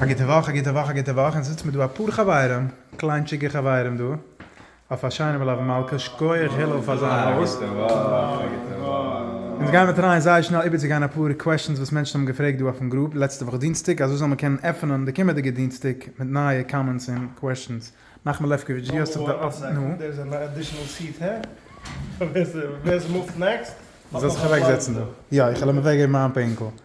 א גוטע וואך, א גוטע וואך, א גוטע וואך, אונז זיצט מיר דא אפאר חברים, קליינטשיגע חברים דא, אויף א שיינע מלוה מלכה, שכוח הלל פאר זיין האוסט. אונז גיימער טרייען זייער שנעל איבערצוגיין אפאר קוועשאנס וואס מענטשן האבן געפרעגט דא אויפן גרופ לעצטע וואך דינסטאג, אזוי זאל מען קענען עפענען די קומענדיגע דינסטאג מיט נייע קאמענטס און קוועשאנס. נחמן לעפקאוויטש דו האסט זיך נו. זאלסט זיך אוועקזעצן דא. יא, איך העל אוועקגעבן מיין פענקל.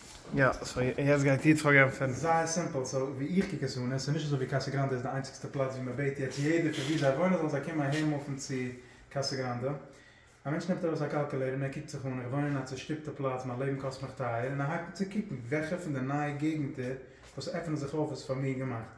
יא סאו יעצט גייט איר צוריק גיין פון. זייער סימפל סאו ווי איך קוק עס אן איז ס'נישט אזוי ווי קאסא גראנדע איז די איינציגסטע פלאץ ווי מ'בעט יעצט יעדער פון ווי זיי וואוינען זאלן זיי קומען אהער מופן צו קאסא גראנדע. א מענטש נעמט ארויס א קאלקולעיטער און ער קוקט זיך אן איך וואוין אין א צושטופטע פלאץ מיין לעבן קאסט מיך טייער און ער הייבט אן צו קוקן וועלכע פון די נייע געגענטער וואס עפענען זיך אויף איז פאר מיר געמאכט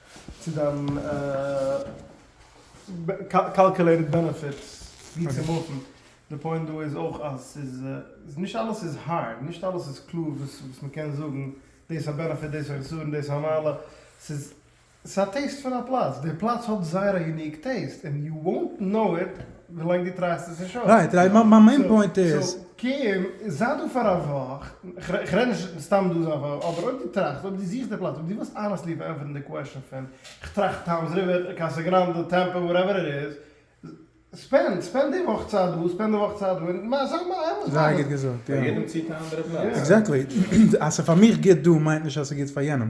צו דיין קאלקעלעיטעד בענעפיט ווי צו מופן, די פוינט דא איז אויך אז ס'איז נישט אלעס איז הארד, נישט אלעס איז קלאר וואס מען קען זאגן דאס א בענעפיט דאס א חסרון און דאס א מעלה, ס'איז א טעיסט פון א פלאץ, די פלאץ האט זייער א יוניק טעיסט און יו וואונט קנאו איט ווילאנג דו טרייסט עס נישט אויס. קום, זיי דא פאר א וואך, כ'רעד נישט סתם דא זיין פאר, אבער אויב דו טראכסט, אויב דו זוכסט די פלאץ, אויב דו ווילסט אנעסטלי פארענטפערן די קוועשאן פון, כ'טראכט טאמס ריווער, קאסא גראנדע, טעמפא, וואטעווער איט איז, ספענד, ספענד די וואך צייט דא, ספענד די וואך צייט דא, און מע, זיי מע, אמת זייער האנעסט. גוט געזאגט, יא. פאר יעדעם ציט א אנדערע פלאץ. עקזעקטלי. אז ס'איז פאר מיך גוט דא מיינט נישט אז ס'איז גוט פאר יענעם.